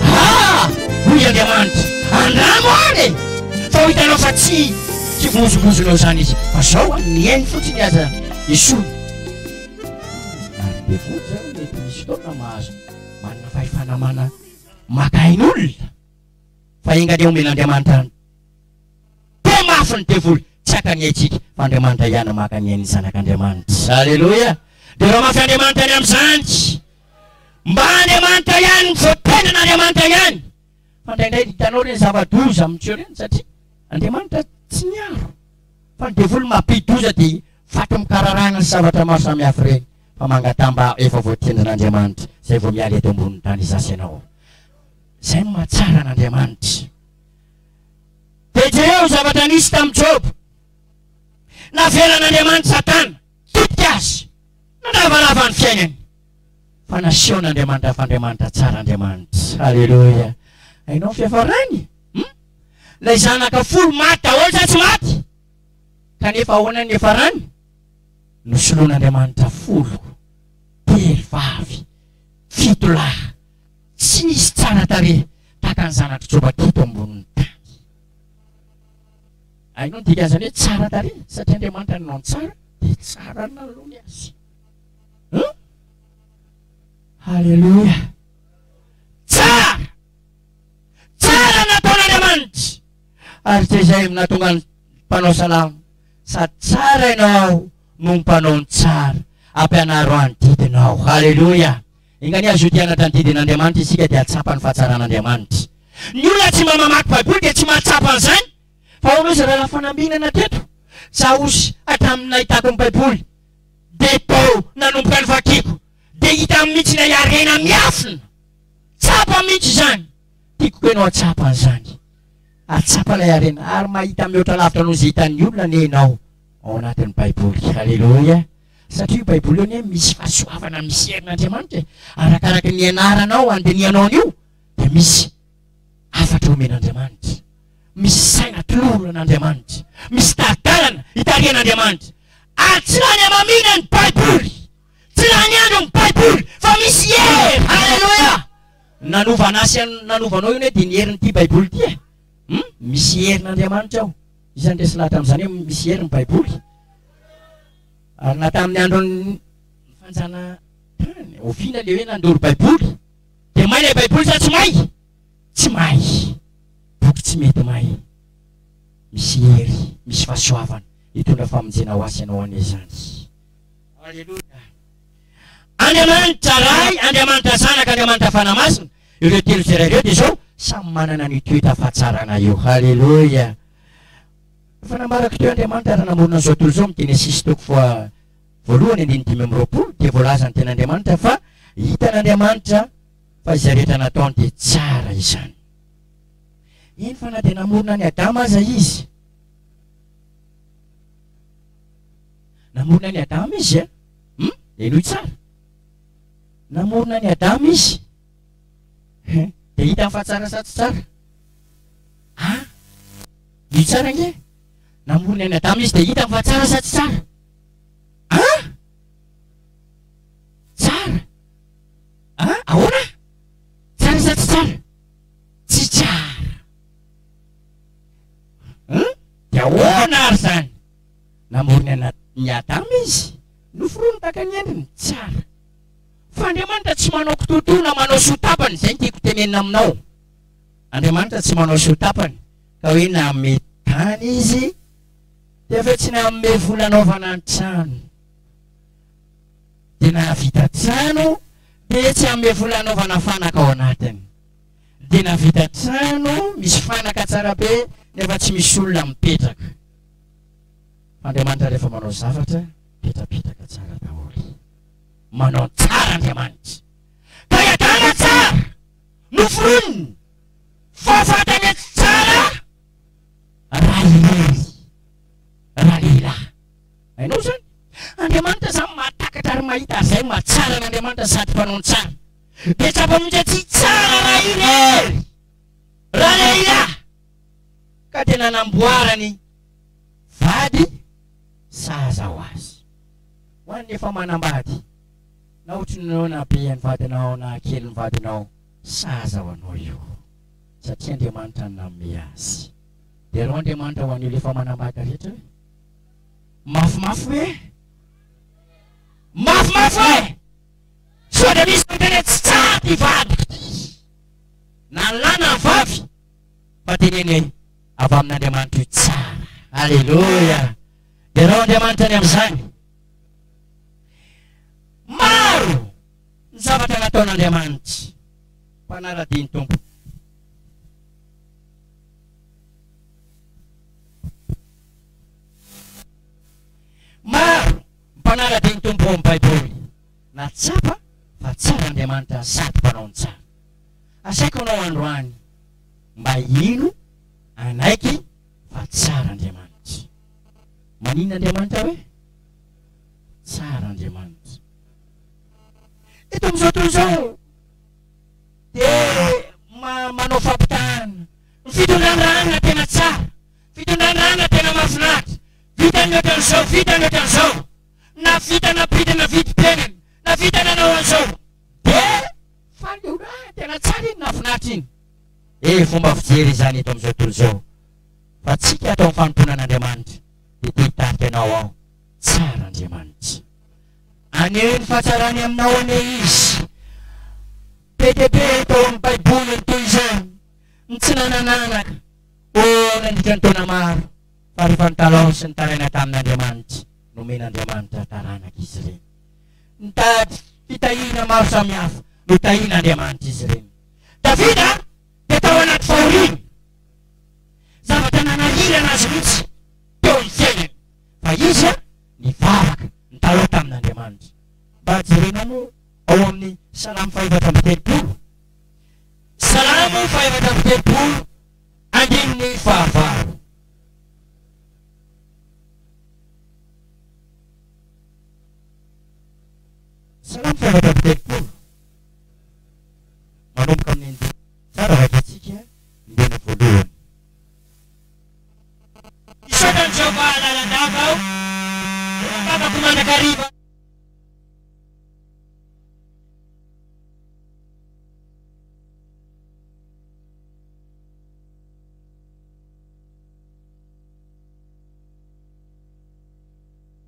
Ah! hoy Andriamanitra, andramo any e! Fa ho hitanao fa tsy kivozovozonao izany izy, fa zao a, mihaino fotsiny aza Yeshua. Ary be koa izany mety misy fotoana mahazo manana fahefana mana- maka ain'olona, fa enga anie omen'Andriamanitra Toa mafy ny devoly, tsy haka ny aintsika, fa Andriamanitra hiana maka ny ain'ny zanak' Andriamanitra. Aleloia! Dia raha mafy Andriamanitra ny amin'izany, mba Andriamanitra ihany no voatenan' Andriamanitra ihany. Fa indraindray hitanao ireny zava-doza amin'ny tsy eo ireny, satria Andriamanitra tsy niaro, fa ny devoly mampidi-doza dia faty mikararagna sy zavatra maro samihafa ireny, fa mangataha mba efa voatenjan' Andriamanitra, izay vao miala eto ambonin'ny tany izaho sy ianao. Izay no mahatsara an' Andriamanitra. Dia jereo ny zavatra nisy tamin'i Joba. Navelan'Andriamanitra Satana hikitika azy, nandravarava ny fiainany, fa nasehon'Andriamanitra fa Andriamanitra tsara Andriamanitra. Aleloia! Hainao ny fiafarany? Hum? Ilay zanaka folo maty daholo sa tsy maty? Kanefa ahoana ny hiafarany? Nosoloan'Andriamanitra folo, telo vavy, fito lahy. Tsy nisy tsara tarehy tahaka ny zanatr'i Joba teto ambonin'ny tany. Hainao ny dikan'izany hoe tsara tarehy? Satria Andriamanitra nanao ny tsara, dia tsara nalony azy. Huh? Haleloia! Tsara! Tsara ny nataon'Andriamanitra! Ary tsy izay nahatonga ny mpanao salamo, sady tsara ianao no mpanao ny tsara, ampianaro any didinao. Haleloia! Enga anie azoty hianatra ny didin'Andriamanitra isika dia hahatsapa ny fahatsaran'Andriamanitra. Ny olona tsy mba mamaky baiboly dia tsy mahatsapa an'izany. Fa ahoana ozy rahalahy fanambinana teto? Za ozy hatramin'ny nahitako ny baiboly dia tao nanomboka ny vakiko dia hita mihitsy ilay harena miafina. Tsapa mihitsy izany. Tiako koa ianao hahatsapa an'izany. Hahatsapa ilay harena ary mahita mihoatra lavitra noho izay hitan'ny olona anie ianao ao anatin'ny baiboly. Aleloia. Satria io baiboly io anie misy fahasoavana misy herin' Andriamanitra e! Arakaraky ny ianaranao andinihanao an'io dia misy hafatra omen' Andriamanitra, misy saina atoloran' Andriamanitra, misy tari-dalana itarihan' Andriamanitra ary tsy lany hamamiana ny baiboly, tsy lany andro ny baiboly fa misy hery! Haleloia! Ny nanova an'asy nanovanao io anie dia ny herin'ity baiboly ity e! Hum! Misy herin' Andriamanitra ao. Iza no resy lahy tamin'izany hoe misy hery ny Baiboly? Ary na tamin'ny andron'ny fanjanahantany, oviana ilay hoe nandoro Baiboly? Dia may ilay Baiboly sa tsy may? Tsy may! Boky tsy mety may. Misy hery, misy fahasoavana hitondra famonjena ho azy ianao anie izany. Aleloia! Andriamanitra Ray, Andriamanitra Zanaka, Andriamanitra Fanahy Masina, ireo telo tsirairay ireo dia izao, samy manana ny toe-tafatsarana io. Haleloia! Efa nambarako teo Andriamanitra ary namorona an'izao tontolo izao amin'ny Genesisy toko faha voalohany andininy dimy amby roapolo dia voalaza ny tena Andriamanitra fa hitan'Andriamanitra fa izay rehetra nataony dia tsara izany. Eny fa na dia namorona an'i Adama aza izy. Namorona an'i Adama izy eh? Hum? Henoy tsara. Namorona an'i Adama Izy. Hum? Dia hitany fa tsara sa tsy tsara? Ah? Henoy tsara ange. Namorona an'i Adama Izy dia hitany fa tsara sa tsy tsara? Ah? Tsara. Ah? Ahoana? Tsara sa tsy tsara? Tsy tsara. Hum? Dia ahoana ary izany? Namorona an'i Adama izy, noforoniny tahaka ny endriny tsara. Fa Andriamanitra tsy manao kitoatoa na manao soa tapany, izay no tiako tenenina aminao. Andriamanitra tsy manao soa tapany, ka hoe nanome tany Izy, dia avy eo tsy nanome vola hanaovana trano. Dia nahavita trano, dia tsy hanome vola hanaovana fanaka ao anatiny. Dia nahavita trano, misy fanaka tsara be, nefa tsy misy olona mipetraka. Andriamanitra rehefa manao zavatra petrapetraka tsara daholo. Manao tsara Andriamanitra. Ka i Adama tsara noforoniny fa fantany etsy tsara raha irery raha lehilahy. Hainao izany? Andriamanitra izany mahatakatra ary mahita ary izay maha tsara an'Andriamanitra sady mpanao ny tsara. Dia tsapa mihitsy atsy tsara raha irery raha lehilahy. ka dia nanamboarany vady sahaza ho azy. Ho an'ny efa manambady, na ohatrinao na be ny vadinao na kely ny vadinao, sahaza ho anao io, satria Andriamanitra no nanome azy. Derao Andriamanitra ho an'ny olona efa manambady rehetra hoe, Mafimafy hoe eh! Mafimafy hoe eh! Sao dia misy miteny hoe, Tsy tsara ity vadiko ity! Na lahy na vavy! fa teneniny avy amin'Andriamanitra io tsara. Aleloia! Ianao Andriamanitra ny amin'izany. Maro ny zavatra nataon'Andriamanitra. Mpanara-dia ny Tompo. Maro mpanara-dia ny Tompo ao amin'ny Baiboly. Nahatsapa fa tsara Andriamanitra sady mpanao ny tsara. Asaiko anao androany mba hino anaiky fa tsara Andriamanitra. Maninona Andriamanitra hoe tsara Andriamanitra? Eto amin'izao tontolo izao dia manao fampitahana. Ny fitondran-drahana tena tsara, fitondran-drahana tena mahafinaritra, vita ny ohatran'izao, vita ny ohatran'izao, na vita na bidy na vidim-piainana, na vita nanao an'izao. Fandona tena tsara iny nafinaritra iny e fomba fijery izany eto amizao tontolo izao fa tsika atao ny fanompoana an'Andriamanitra de te hitarika anao aho tsara Andriamanitra aneho ny fahatsarany aminao anie izy PTP tao amin'ny baiboly ny toy izany ny tsy nanan'anaka ô nandritra ny taona maro fa rehefa nitalaho sy nitaraina tamin'Andriamanitra nomena Andriamanitra taranaka izy ireny Mitady fitahiana maro samihafa no tahian'Andriamanitra izy ireny. Davida dia tao anaty fahoriana. Zavatra nanahirana azy mihitsy teo amin'ny fiainany fa izy nivavaka, nitalaho tamin'Andriamanitra. Mba jerena aloha ao amin'ny Salamo fahefatra amby telopolo. Salamo fahefatra amby telopolo, andininy fahavalo. Salamo fahaefatra amby telopolo. Manomboka amin'ny andininy fahatsara vakiantsika ny teny voalohany. Hisaotra an'i Jehovah lalandava aho, rehefa vavako mandrakariva.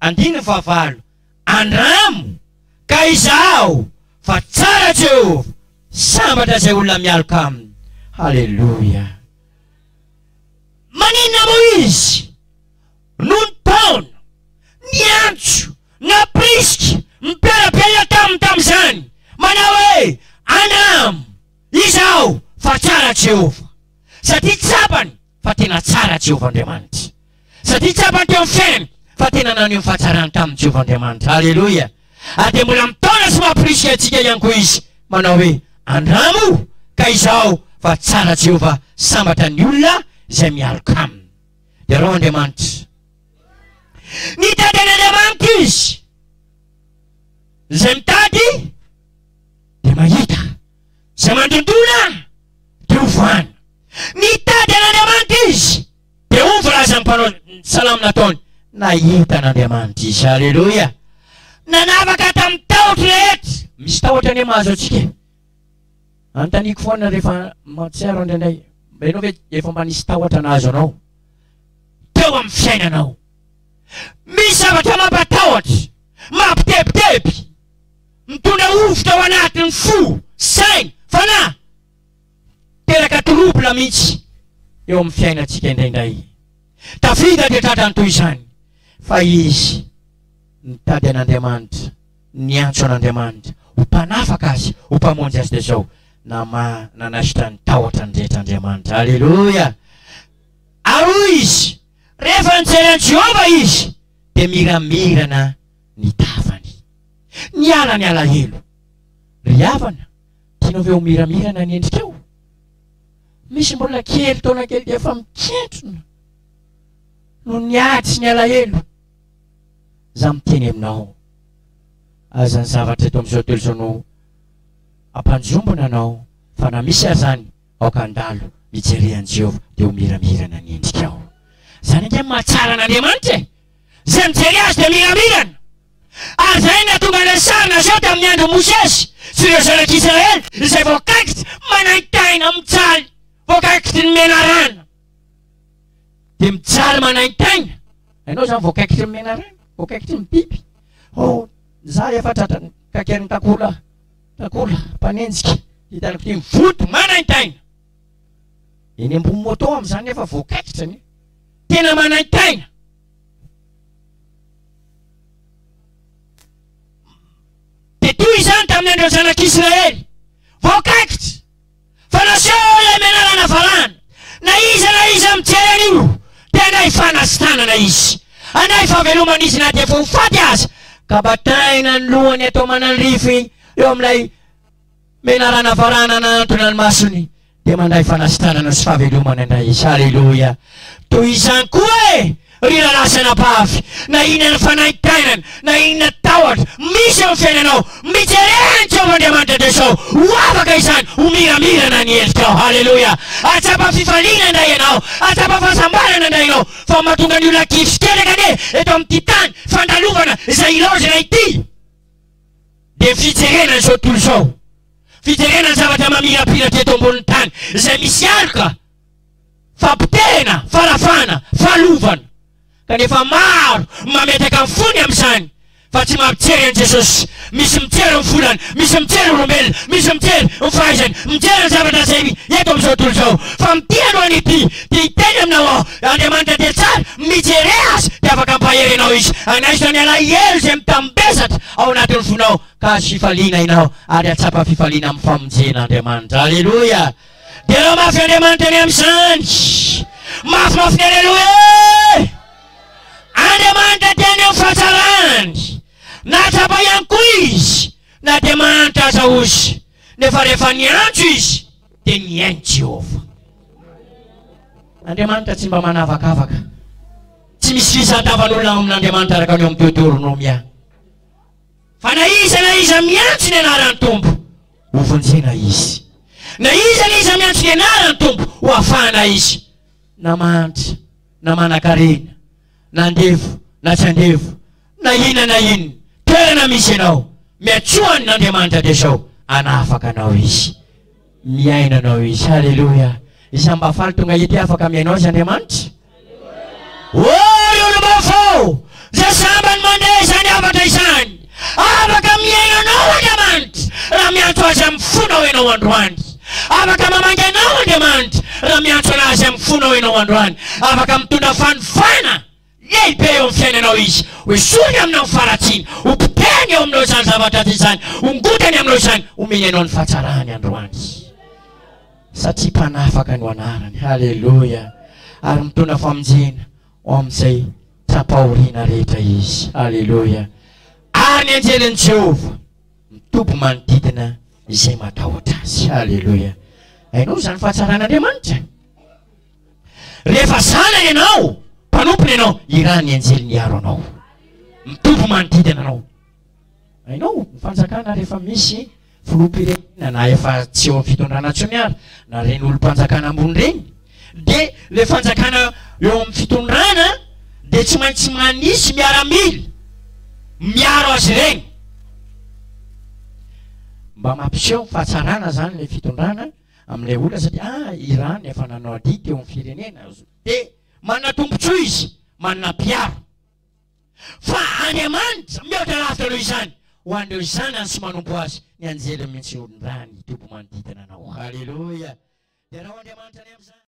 Andininy fahavalo, Andramo ka izaho fa tsara Jehovah, sambatra izay olona mialoka aminy. Haleloia! Maninona moa izy no nitaona, niantso, nampirisika ny mpiara-belona taminy tamin'izany, manao hoe, Andramo izaho fa tsara Jehovah? Satria tsapany fa tena tsara Jehovah Andriamanitra. Satria tsapany teo amin'ny fiainany fa tena naneho ny fahatsarany taminy Jehovah Andriamanitra. Haleloia! Ary dia mbola mitaona sy mamporisika antsika ihany koa izy manao hoe, Andramo ka izao fa tsara Jehovah sambatra ny olona izay mialoka aminy. Iaraho Andriamanitra. Mitady an'Andriamanitra izy. Izay mitady dia mahita. Izay mandondona dia ho voahana. Mitady an'Andriamanitra izy, dia hoy ny voalazan'ny mpanao salamo nataony, Nahita an'Andriamanitra izy. Aleloia! Nanavaka tamin'ny tahotro rehetra. Misy tahotra anie mahazo antsika e. Anontaniako foana rehefa mahatsiaro indraindray, mba ianao ve efa mba nisy tahotra nahazo anao teo amin'ny fiainanao? Misy zavatra mampatahotra, mampitebiteby. Mitondra hovitra ao anatin'ny fo, saina, fanahy. Miteraka trouble mihitsy eo amin'ny fiainantsika indraindray. Davida dia tratran'ny toy izany, fa izy nitady an'Andriamanitra, niantso an'Andriamanitra ho mpanafaka azy, ho mpamonjy azy, dia izao, namaha, nanaisotra ny tahotrany rehetra Andriamanitra. Aleloia! Ary hoy izy, Rehefa nijery an'i Jehovah izy, dia miramirana. ny tavany. Niala ny alahelo. Ry havana, tianao ve ho miramira na ny endrikao? Misy mbola kely taona kely dia efa mikentrona noho ny ady sy ny alahelo. Za miteny aminao, aza ny zavatra eto amin'izao tontolo izao no hampanjombona anao fa na misy azany aoka handalo mijery an'i Jehovah dia ho miramirana ny endrikao. Izany ange no mahatsara an'Andriamanitra e! Izay mijery azy dia miramirana. Ary izay nahatonga ilay sary naseho tamin'ny andron'i Mosesy sy ireo zanak'Israely izay voakaikitra manaintaina mijaly, voakaikitry ny menarana, dia mijaly manaintaina. Hainao izany voakaikitry ny menarana? Voakaikitry ny biby. Oh, nizaha efa tratran'ny kakerin'ny takola, takola mpanenjika, hitan'ny kotian'ny vody manaintaina. Eny ambony moto amin'izany nefa voakaikitra anie. Tena manaintaina. Dia toy izany tamin'ny andron'ny zanak'Israely. Voakaikitra. Fa naseho ilay menarana valahana. Na iza na iza mijery an'io dia handray fanasitanana izy. Handray fahavelomana izy na dia efa ho faty aza. Ka bataina ny lohany atao mananrify eo amin'ilay. Menarana farana anantona ny masony dia mandray fanasitranana sy fahavelomana indray izy. Aleloia! Toy izany koa e! Ry rahalahy sy anabavy, na inona ny fanaintainana, na inona tahotra, misy eo amin'ny fiainanao, mijere an'i Jehovah Andriamanitra dia sao ho afaka izany ho miramirana ny endrikao. Aleloia! Ahatsapa fifaliana indray ianao, ahatsapa fahasambarana indray ianao, fa mahatonga ny olona kivy sy ketraka anie eto amin'ity tany fandalovana izay ilaozana ity. dia fijerena izao tontolo izao, fijerena ny zavatra mamirapiratra eto ambonin'ny tany, izay misy aloka fa potehina, farafahana, fahalovana. Kanefa maro ny mametraka ny fony amin'izany fa tsy mampijery an'i Jesosy. Misy mijery ny volany, misy mijery olombelona, misy mijery ny fahaizany, mijery ny zavatra izay eto amin'izao tontolo izao. Fa mitia aloha ny mpitia. Dia hiteny aminao aho, Andriamanitra dia tsara, mijere azy, dia afaka hampahery anao Izy. Hanaiso ny alahelo izay mitambesatra ao anatin'ny fonao, ka hahazo fifaliana ianao, ary hahatsapa fifaliana amin'ny famonjena Andriamanitra. Aleloia! Derao mafy Andriamanitra anie amin'izany! Mafimafy ny aleloia e! Andriamanitra dia ny amin'ny fahatsarany. Nahatsapa ihany koa izy na dia mahantra aza ozy, nefa rehefa niantso izy, dia mihaino Jehovah. Andriamanitra tsy mba manavakavaka. Tsy misy fisadavan'olona ao amin'Andriamanitra araka ny ao amin'ny Deoteronomia. Fa na iza na iza miantso ny anaran'ny Tompo, hovonjena izy. Na iza na iza miantso ny anaran'ny Tompo, hoafahana izy. Na mahantra, na manankarena, na andevo, na tsy andevo, Na inona na inona toerana misy ianao, miantsoa an' Andriamanitra dia sao hanafaka anao Izy. Miaino anao Izy. Haleloia! Iza mba faly tonga ety afaka mihaino Azy Andriamanitra? Ô ry olom-baovao, izay sambany mandeha izany hafatra izany, afaka mihaino anao Andriamanitra raha miantso Azy amin'ny fonao ianao androany. Afaka mamangy anao Andriamanitra raha miantso an'Azy amin'ny fonao ianao androany. Afaka mitondra fanovana. Lehibe eo amin'ny fiainanao izy. Hoesoriny aminao ny faharatsiany. Hopotehiny eo aminao izany zavatra ratsy izany. Hongotany aminao izany. Homeny anao ny fahatsarany androany. Satria mpanafaka no anarany. Haleloia. Ary mitondra famonjena ho amin'izay tra-pahoriana rehetra izy. Haleloia. Ary ny anjelin'i Jehovah mitoby manodidina izay matahotra azy. Haleloia. Hainao izany fahatsaran'Andriamanitra? Rehefa zanany ianao, mpanompony ianao, irahan'ny anjely miaro anao. Mitombo manodidina anao. Hainao ny fanjakana rehefa misy filoham-pirenena na efa tsy eo amin'ny fitondrana intsony ary na ireny olom-panjakana ambony ireny dia ilay fanjakana eo amin'ny fitondrana dia tsy maintsy manisy miaramila miaro azy ireny. Mba mampiseho ny fahatsarana izany ilay fitondrana. amin'ilay olona satria ah Iran efa nanao adidy teo amin'ny firenena dia manana tombontsoa izy manana mpiaro fa Andriamanitra mihoatra lavitra noho izany ho an'ireo zanany sy manompo azy ny anjely mihitsy olon-drà ny toby manodidina anao haleloia dia rao Andriamanitra any amin'izany